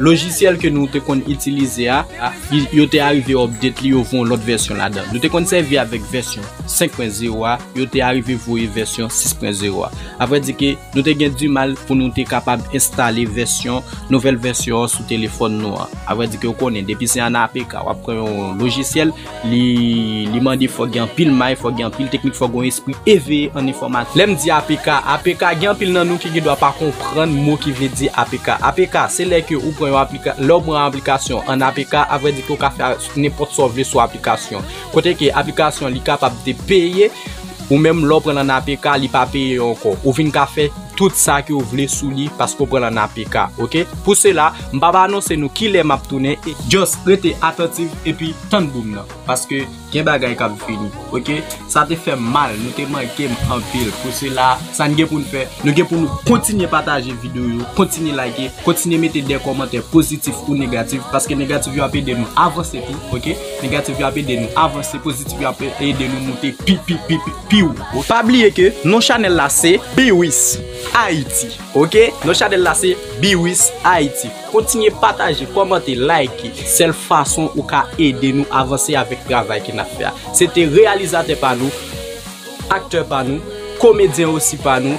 Lojisyèl ke nou te konn itilize a, yo te arive update li, yo voye yon lòt vèsyon ladan. Nou te konn sèvi avèk vèsyon 5 pwen zero a, yo te arive voye vèsyon 6 pwen zero a. A vrè di ke nou te gen di mal pou nou te kapab enstale vèsyon, nouvèl vèsyon an sou telefòn nou an. A vrè di ke ou konnen, depi se an APK, wap pran yon lojisyèl. Li mande fòk gen anpil may, fòk gen anpil teknik, fòk gen yon espri eveye an enfòmatik. Lè m di apk, apk, gen anpil nan nou ki gen dwa pa konprann mo ki vle di apk. Apk, se lè ke ou pran yon aplikasyon, lè ou pran yon aplikasyon an apk, a vrè di ke ou ka fè nenpòt sa ou vle sou aplikasyon an. Kote ke aplikasyon an li kapab te peye, ou menm lè ou pran l an apk, li pa peye ankò. Ou vin ka fè. tout sa ke ou vle sou li paske ou pran l an apk ok pou sela m pap anonse nou kilè map tounen e just rete atantiv epi tann boom nan paske gen bagay kap vini ok sa te fèm mal nou te manke m anpil pou sela sa n gen pou n fè nou gen pou nou kontinye pataje video yo kontinye like kontinye mete de kòmantè pozitif ou negatif paske negatif yo ap ede nou avanse tou ok negatif yo ap ede nou avanse pozitif yo ap ede nou moute pi pi pi pi pi wo. Pa bliye ke non chanèl la se Biwis Ayiti ok non chanèl la se Biwis Ayiti kontinye pataje kòmante like sèl fason ou ka ede nou avanse avèk travay ke nap fè a se te reyalizatè pa nou aktè pa nou komedyen osi pa nou.